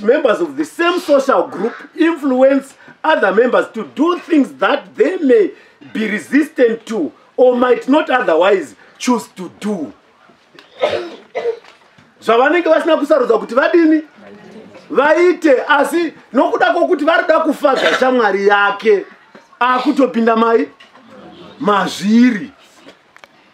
members of the same social group influence other members to do things that they may be resistant to or might not otherwise choose to do zvavanenge vasina kusarudza kuti vadini vaite asi nokuda kwokuti vari kuda kufadza shamwari yake akutopinda mai mazviri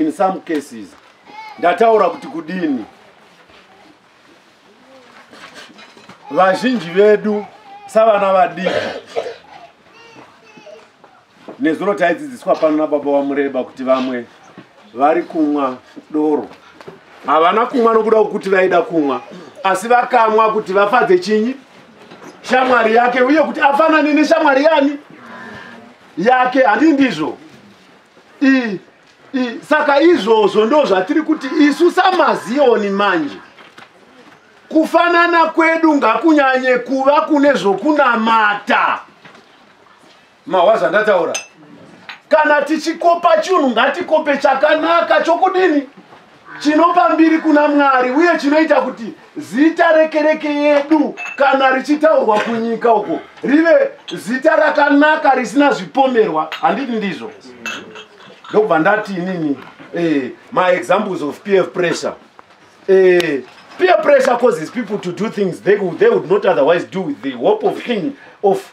in some cases ndataura kuti kudini vazhinji vedu savana vadiki nezuro taidzidziswa pano nababa vamureba kuti vamwe vari kumwa doro havana kumwa nokuda kwokuti vaida kumwa asi vakamwa kuti vafadze chinyi shamwari yake uye kuti afanane neshamwari yani yake handii ndizvo I, i, saka izvozvo ndo zvatiri kuti isu samaziyoni manje kufanana kwedu ngakunyanye kuva kune zvokunamata mahwa zvandataura kana tichikopa chinhu ngatikope chakanaka chokudini chinopa mbiri kuna mwari uye chinoita kuti zita rekereke yedu kana richitaurwa kunyika uko rive zita rakanaka risina zvipomerwa handiti ndizvo ndokubva ndati inini eh, maexamples of peer pressure eh, peer pressure causes people to do things they, they would not otherwise do with the hope of thing of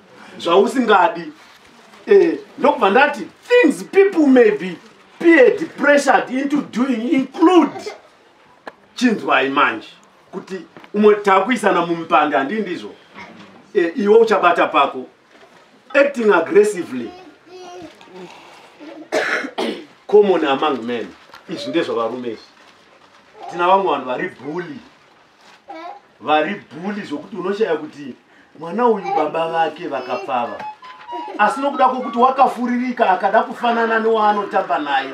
zvausingadi eh, ndokubva ndati things people may be peered pressured into doing include chinzwai manje kuti umwe takuisana mumupanda handi ndizvo eh, iwe uchabata pako acting aggressively common among men izvi ndezvavarume izvi tina vamwe vanhu vari bully vari bhuli zvokuti unoshaya kuti mwana uyu baba vake vakapfava asi nokuda kwokuti wakafuririka akada kufanana newaanotamba naye